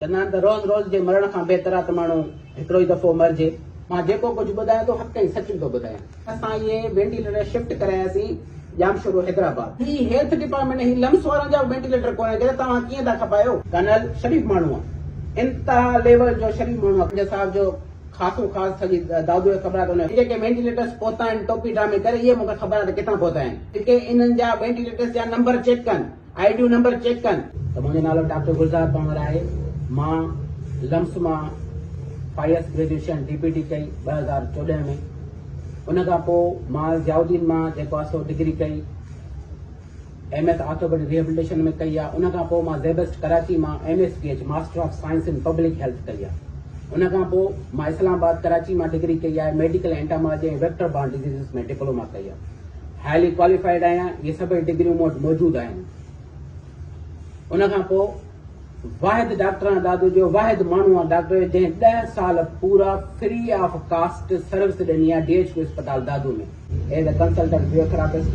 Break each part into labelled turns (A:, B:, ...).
A: چندان ته روز روز جي مرڻ کان بهتر آ ته ماڻهو هڪڙو ئي دفعو مرجي. مان جيڪو ڪجهه ٻڌايان ٿو حق ۽ سچ ٿو ٻڌايان. اسان اهي وينٽيليٽر شفٽ ڪراياسين ڄامشورو حيدرآباد. هي هيلٿ ڊپارٽمينٽ هي لمس وارن جا به وينٽيليٽر ڪونهن جڏهن توهان ڪيئن ٿا کپايو. ڪرنل شريف ماڻهو آ انتها ليول جو شريف ماڻهو آ خواجه صاحب جو خاصو خاص سڄي دادوء کي خبر آ ته ان جي جيڪي وينٽيليٽرس پهتا آهن ٽوپي ڊرامي ڪري اهي مونکي خبر آ ته ڪٿان پهتا آهن جيڪي انهن جا وينٽيليٽرس جا نمبر چيڪ ڪن. آئي ڊيون نمبر چيڪ ڪن. ته منهنجو نالو ڊاڪٽر گلزار پنهور آهي مان لمس مان پايس گريجوئيشن ڊي پي ٽي ڪئي ٻه هزار چوڏهن ۾ ان کان پوء مان ضياء الدين مان جيڪو آهي سو ڊگري ڪئي ايم ايس آرٿوپيڊڪ ريهبلٽيشن ۾ ڪئي آهي ان کان پوء مان زيبسٽ ڪراچي مان M S P H master of science in public health ڪئي آهي ان کان پوء مان اسلام آباد ڪراچي مان ڊگري ڪئي آهي medical entomology ۽ vector borne diseases ۾ diploma ڪئي آهي هائلي ڪواليفائيڊ آهيان اهي سڀئي ڊگريون مون وٽ موجود آهن ان کان پوء واحد ڊاڪٽر آهيان دادو جو واحد ماڻهو آهيان ڊاڪٽر جنهن ڏهه سال پورا فري آف ڪاسٽ سروس ڏني آهي ڊي ايچ ڪيو اسپتال Dadu ۾ as a consultant physiotherapist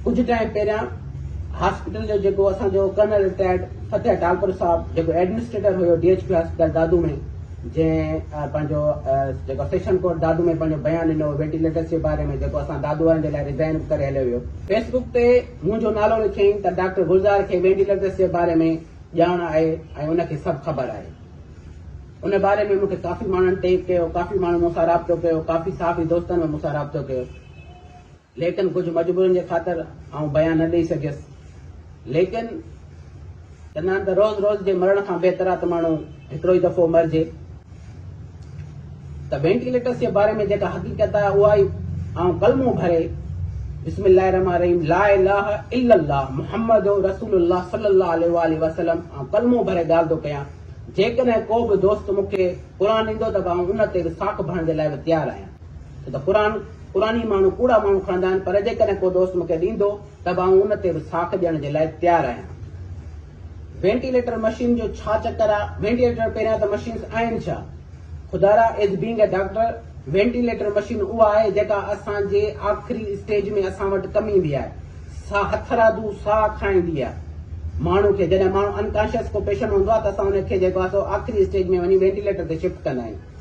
A: ڪجهه ٽائيم پهريان هاسپيٽل جو جيڪو اسان جو ڪرنل رٽائرڊ فتح ٽالپر صاحب جيڪو ايڊمنسٽريٽر هيو ڊي ايچ ڪيو اسپتال دادو ۾ جنهن پنهنجو جيڪو سيشن ڪورٽ دادو ۾ پنهنجو بيان ڏنو هو ويٽيليٽس جي باري ۾ جيڪو اسان دادو وارن جي لاء ريزائن به ڪري هليو ويو. فيس بڪ تي منهنجو نالو لکيائين ته ڊاڪٽر گلزار کي وينٽيليٽس جي باري ۾ ڄاڻ آهي ۽ ان کي سڀ خبر آهي. ان باري ۾ مون کي ڪافي ماڻهن ٽيگ ڪيو، ڪافي ماڻهن مون سان رابطو ڪيو، ڪافي صحافي دوستن به مون سان رابطو ڪيو. ليڪن ڪجهه مجبورين جي خاطر آئون بيان نه ڏئي سگهيس. ليڪن چندان ته روز روز جي مرڻ کان بهتر آ ته ماڻهو هڪڙو ئي دفعو مرجي. ته وينٽيليٽرس جي باري ۾ جيڪا حقيقت آ اها ئي آئون ڪلمو ڀري بسم الله الرحمٰن الرحيم لا اله الا الله محمد رسول الله صلي الله عليه واٰله وسلم آئون ڪلمو ڀري ڳالهه ٿو ڪيان. جيڪڏهن ڪو به دوست مون کي قرآن ڏيندو ته به آئون ان تي به ساک ڀرڻ جي لاء به تيار آهيان. ڇو ته قرآن قرآني ماڻهو ڪوڙا ماڻهو کڻندا آهن پر جيڪڏهن ڪو دوست مونکي ڏيندو ته به آئون ان تي به ساک ڏيڻ جي لاء تيار آهيان. وينٽيليٽر مشين جو ڇا چڪر آ وينٽيليٽر پهريان ته مشينس آهن ڇا خدارا as being a doctor ventilator machine اها آهي جيڪا اسان جي آخري اسٽيج ۾ اسان وٽ ڪم ايندي آهي سا هٿرادو ساهه کائيندي آهي ماڻهو کي جڏهن ماڻهو انڪانشيس ڪو پيشنٽ هوندو آهي ته اسان ان کي جيڪو آهي سو آخري اسٽيج ۾ وڃي وينٽيليٽر تي شفٽ ڪندا آهيون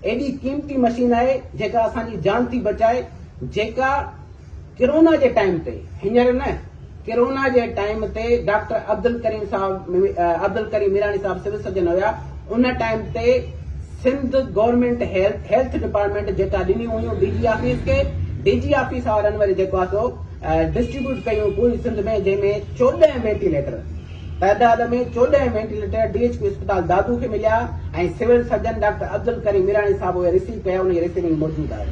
A: ايڏي قيمتي مشين آهي جيڪا اسان جي جان ٿي بچائي جيڪا ڪرونا جي ٽائيم تي هينئر نه ڪرونا جي ٽائيم تي ڊاڪٽر عبدالڪريم صاحب عبدالڪريم ميراڻي صاحب سول سرجن هيا ان ٽائيم تي Sindh government health health department جيڪا ڏنيون هيون ڊي جي آفيس کي ڊي جي آفيس وارن وري جيڪو آهي سو ڊسٽريبيوٽ ڪيون پوري سنڌ ۾ جنهن ۾ چوڏهن وينٽيليٽر تعداد ۾ چوڏهن وينٽيليٽر ڊي ايڇ ڪيو اسپتال دادو کي مليا ۽ civil surgeon doctor Abdul Karim Mirani صاحب اهي رسيو ڪيا انهي رسيونگ موجود آهي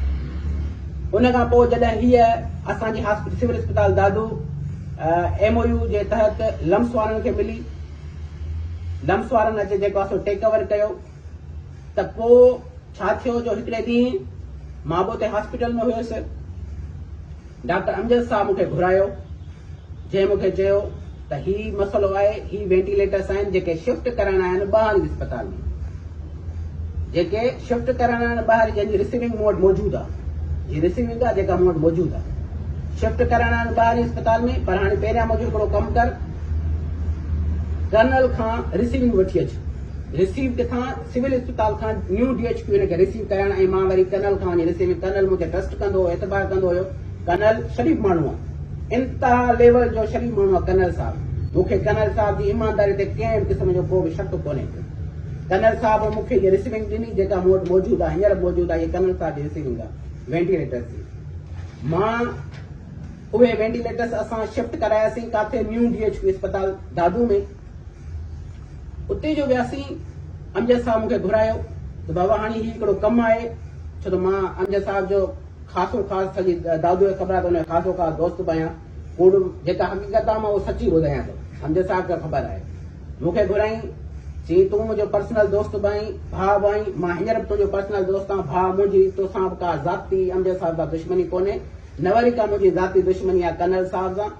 A: ان کان پوء جڏهن هيء اسان جي هاسپيٽل سول اسپتال دادو ايم او يو جي تحت لمس وارن کي ملي لمس وارن اچي جيڪو اسو ٽيڪ اوور ڪيو ته پوء ڇا ٿيو جو هڪڙي ڏينهن مان به اتي هاسپيٽل ۾ هيس. ڊاڪٽر امجد صاحب مون کي گهرايو، جنهن مون کي چيو ته هي مسئلو آهي، هي وينٽيليٽرس آهن جيڪي شفٽ ڪرڻا آهن ٻاهرين اسپتال ۾، جيڪي شفٽ ڪرڻا آهن ٻاهرين جنهن جي رسيونگ مون وٽ موجود آ، جي رسيونگ آ جيڪا مون وٽ موجود آ، شفٽ ڪرڻا آهن ٻاهرين اسپتال ۾ پر هاڻي پهريان منهنجو هڪڙو ڪم ڪر، ڪرنل کان رسيونگ وٺي اچ. رسيو ڪٿان؟ سول اسپتال کان نيو ڊي ايڇ ڪيو ان کي رسيو ڪيائين ۽ مان وري ڪرنل کان وڃي رسيو ڪيم. ڪرنل مون تي ٽرسٽ ڪندو هو، اعتبار ڪندو هيو. ڪرنل شريف ماڻهو آ. انتها ليول جو شريف ماڻهو آ ڪرنل صاحب. مون کي ڪرنل صاحب جي ايمانداري تي ڪنهن به قسم جو ڪو به شڪ ڪونهي ڪو. ڪرنل صاحب مون کي هيء رسيونگ ڏني جيڪا مون وٽ موجود آ، هينئر به موجود آ، هيء ڪرنل صاحب جي رسيونگ آ، وينٽيليٽرس جي. مان اهي وينٽيليٽرس اسان شفٽ ڪراياسين ڪاٿي نيو ڊي ايڇ ڪيو اسپتال دادو ۾. اتي جو وياسين امجد صاحب مون کي گهرايو ته بابا هاڻي هي هڪڙو ڪم آهي ڇو ته مان امجد صاحب جو خاصو خاص سڄي دادوء کي خبر آهي ته ان جو خاصو خاص دوست به آهيان ڪوڙ جيڪا حقيقت آهي مان اهو سچي ٻڌايان ٿو امجد صاحب کي خبر آهي مون کي گهرائين چي تون منهنجو پرسنل دوست به آهين ڀاء به آهين مان هينئر به تنهنجو پرسنل دوست آهيان ڀاء منهنجي توسان به ڪا ذاتي امجد صاحب سان دشمني ڪونهي نه وري ڪا منهنجي ذاتي دشمني آهي ڪرنل صاحب سان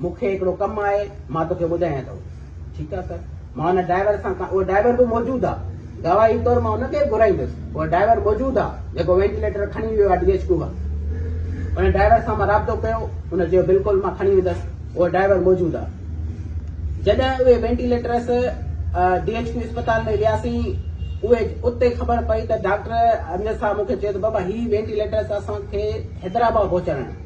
A: مون کي هڪڙو ڪم آهي، مان توکي ٻڌايان ٿو. ٺيڪ آهي سر. مان ان ڊرائيور سان ڪا، اهو ڊرائيور به موجود آ. گواهي طور مان ان کي به گهرائيندس. اهو ڊرائيور موجود آ، جيڪو وينٽيليٽر کڻي ويو آ ڊي ايڇ ڪيو کان. ان ڊرائيور سان مان رابطو ڪيو. ان چيو بلڪل مان کڻي ويندس. اهو ڊرائيور موجود آ. جڏهن اهي وينٽيليٽرس ڊي ايڇ ڪيو اسپتال ۾ وياسين، اهي اتي خبر پئي ته ڊاڪٽر امجد صاحب مون کي چيو ته بابا هي وينٽيليٽرس اسان کي حيدرآباد پهچائڻا آهن.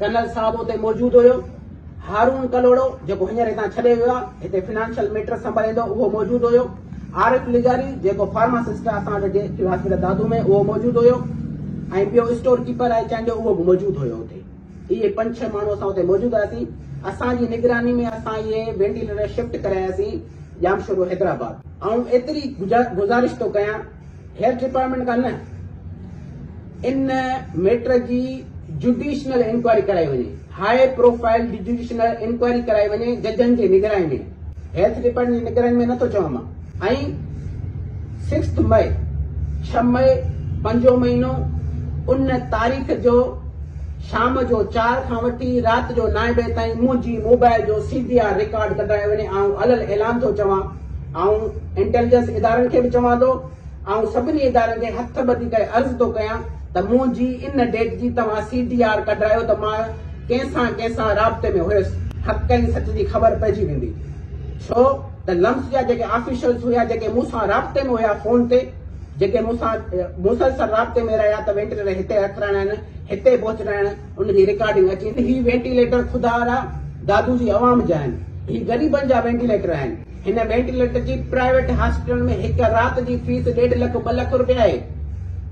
A: ڪنل صاحب اتي موجود هيو. هارون ڪلهوڙو جيڪو هينئر هتان ڇڏي ويو آهي، هتي فنانشل ميٽرس سنڀاليندو اهو موجود هيو. عارف لغاري جيڪو فارماسسٽ آهي اسان وٽ جي هاسپيٽل دادو ۾ اهو موجود هيو ۽ ٻيو اسٽور ڪيپر آهي چانهه جو اهو به موجود هيو اتي. اهي پنج ڇهه ماڻهو اسان اتي موجود هئاسين. اسان جي نگراني ۾ اسان اهي وينٽيليٽر شفٽ ڪراياسين ڄامشورو حيدرآباد. آئون ايتري گذارش ٿو ڪيان. هيلٿ ڊپارٽمينٽ کان نه ان ميٽر جي جڊيشنل انڪوائري ڪرائي وڃي، هاء پروفائل جڊيشنل انڪوائري ڪرائي وڃي ججن جي نگراني ۾ هيلٿ ڊپارٽمينٽ جي نگراني ۾ نه ٿو چوان مان ۽ سڪسٿ مئي ڇهه مئي پنجون مهينو ان تاريخ جو شام جو چار کان وٺي رات جو نائين بجي تائين منهنجي موبائل جو سي ڊي آر رڪارڊ ڪڍرائي وڃي آئون علل اعلان ٿو چوان آئون انٽيليجنس ادارن کي به چوان ٿو، آئون سڀني ادارن کي هٿ ٻڌي ڪري عرض ٿو ڪيان ته منهنجي ان ڊيٽ جي توهان سي ڊي آر ڪڍرايو ته مان ڪنهن سان ڪنهن سان رابطي ۾ هيس حق ۽ سچ جي خبر پئجي ويندي ڇو ته لمس جا جيڪي آفيشلس هيا جيڪي مون سان رابطي ۾ هيا فون تي جيڪي مون سان مسلسل رابطي ۾ رهيا ته وينٽيليٽر هتي رکرائڻ هتي پهچرائڻ ان جي ريڪارڊنگ اچي ته هي وينٽيليٽر خدا را دادو جي عوام جا آهن. هي غريبن جا وينٽيليٽر آهن. هن وينٽيليٽر جي پرائيويٽ هاسپيٽلن ۾ هڪ رات جي فيس ڏيڍ لک ٻه لک رپيا آهي.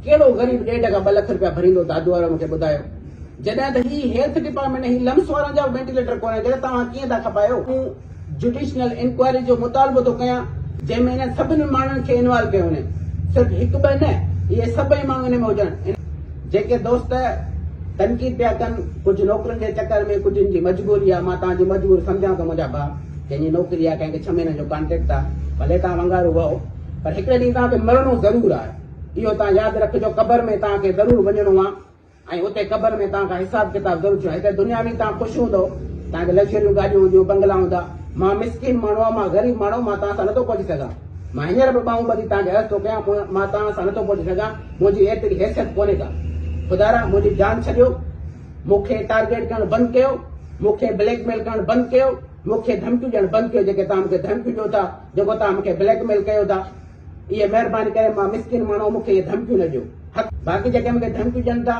A: ڪهڙو غريب ڏيڍ کان ٻه لک رپيا ڀريندو دادو وارو مون کي ٻڌايو. جڏهن ته هي هيلٿ ڊپارٽمينٽ ۽ هي لمس وارن جا به وينٽيليٽر ڪونهن ته توهان ڪيئن ٿا کپايو. جڊيشنل انڪوائري جو مطالبو ٿو ڪيان جنهن ۾ انهن سڀني ماڻهن کي انوالو ڪيو وڃي صرف هڪ ٻه نه اهي سڀئي ماڻهو ان ۾ هجن جيڪي دوست تنقيد پيا ڪن ڪجهه نوڪرين جي چڪر ۾ ڪجهن جي مجبوري آهي مان توهان جي مجبور سمجهان ٿو منهنجا ڀاء ڪنهن جي نوڪري آهي ڪنهن کي ڇهه مهينن جو ڪانٽريڪٽ آهي ڀلي توهان ونگارو وهو پر هڪڙي ڏينهن توهان کي مرڻو ضرور آهي اهو توهان ياد رکجو قبر ۾ توهان کي ضرور وڃڻو آهي ۽ اتي قبر ۾ توهان کان حساب ڪتاب ضرور ٿيو هتي دنيا ۾ توهان خوش هوندؤ توهان کي لگزريون گاڏيون هونديون بنگلا هوندا مان مسڪين ماڻهو آهيان مان غريب ماڻهو مان توهان سان نٿو پهچي سگهان مان هينئر به ٻانهون ٻڌي توهان کي عرض ٿو ڪيان مان توهان سان نٿو پهچي سگهان منهنجي ايتري حيثيت ڪونهي ڪا خدارا منهنجي جان ڇڏيو مون کي ٽارگيٽ ڪرڻ بند ڪيو مون کي بليڪ ميل ڪرڻ بند ڪيو مون کي ڌمڪيون ڏيڻ بند ڪيو جيڪي توهان مون کي ڌمڪيون ڏيو ٿا جيڪو توهان مون کي بليڪ ميل ڪيو ٿا اي مهرباني ڪري مان مسڪين ماڻهو مون کي اهي ڌمڪيون نه ڏيو حق باقي جيڪي مون کي ڌمڪيون ڏين ٿا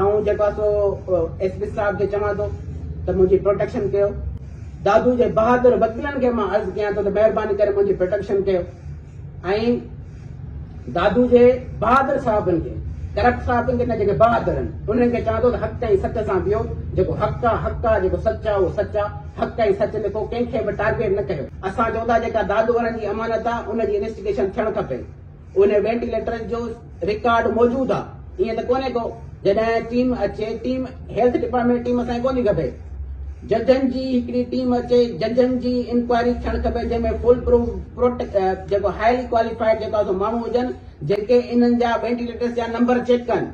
A: آئون جيڪو آهي سو ايس پي صاحب کي چوان ٿو ته منهنجي پروٽيڪشن ڪيو دادو جي بهادر وڪيلن کي مان عرض ڪيان ٿو ته مهرباني ڪري منهنجي پروٽيڪشن ڪيو ۽ دادو جي بهادر صاحبن کي ڪرپٽ صاحبن کي نه جيڪي بهادر آهن انهن کي چوان ٿو ته حق تائين سچ سان بيهو جيڪو حق آ حق آ جيڪو سچ آ اهو سچ آ حق ۽ سچ لکو ڪنهن کي به ٽارگيٽ نه ڪيو. اسان چئون ٿا جيڪا دادو وارن جي امانت آ ان جي انويسٽيگيشن ٿيڻ کپي انهي وينٽيليٽرز جو رڪارڊ موجود آ ائين ته ڪونهي ڪو جڏهن ٽيم اچي ٽيم هيلٿ ڊپارٽمينٽ ٽيم اسان کي ڪونهي کپي ججن جي هڪڙي ٽيم اچي ججن جي انڪوائري ٿيڻ کپي جنهن ۾ فول پروف پروٽ جيڪو هائلي ڪواليفائيڊ جيڪو آ سو ماڻهو هجن جيڪي انهن جا وينٽيليٽرز جا نمبر چيڪ ڪن.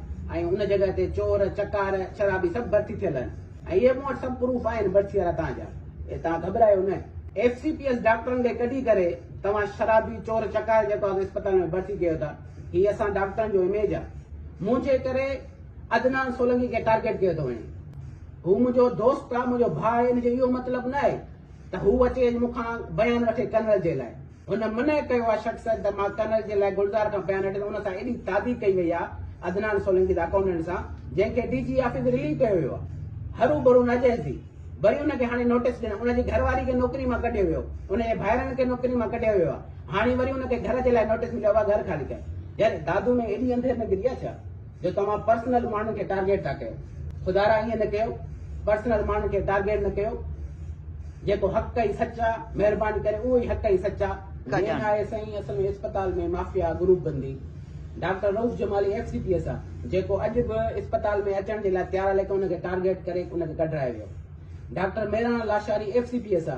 A: ۽ ان جڳهه تي چور، چڪار، شرابي سڀ ڀرتي ٿيل آهن ۽ اهي مون وٽ سڀ پروف آهن ڀرتي وارا توهان جا ۽ توهان گهٻرايو نه. ايف سي پي ايس ڊاڪٽرن کي ڪڍي ڪري توهان شرابي، چور، چڪار جيڪو آهي اسپتال ۾ ڀرتي ڪيو ٿا هي اسان ڊاڪٽرن جو اميج آهي. منهنجي ڪري عدنان سولنگي کي ٽارگيٽ ڪيو ٿو وڃي. هو منهنجو دوست آهي، منهنجو ڀاء آهي ان جو اهو مطلب نه آهي ته هو اچي مون کان بيان وٺي ڪنول جي لاء. هن منع ڪيو اها شخص ته مان ڪرنل جي لاء گلزار کان بيان هٽي ته ان سان ايڏي تعدي ڪئي وئي آهي عدنان سولنگي ته اڪائونٽنٽ سان جنهن کي ڊي جي آفيس رليو ڪيو ويو آهي هرو برو نه جهيس ٿي وري ان کي هاڻي نوٽيس ڏنو ان جي گهر واري کي نوڪري مان ڪڍيو ويو ان جي ڀائرن کي نوڪري مان ڪڍيو ويو آهي هاڻي وري ان کي گهر جي لاء نوٽيس مليو آهي گهر خالي ڪيو يار دادو ۾ ايڏي انڌير نگري آهي ڇا. جو توهان پرسنل ماڻهن کي ٽارگيٽ ٿا ڪيو خدارا ائين نه ڪيو پرسنل ماڻهن کي ٽارگيٽ نه ڪيو جيڪو حق ۽ سچ آ مهرباني ڪري اهو ئي حق ۽ سچ آ مين آهي سائين اصل ۾ اسپتال ۾ مافيا گروپ بندي doctor Rauf Jamali ex D P S آ جيڪو اڄ به اسپتال ۾ اچڻ جي لاء تيار آ ليڪن ان کي ٽارگيٽ ڪري ان کي ڪڍرائي ويو doctor Miran Lashari ex D P S آ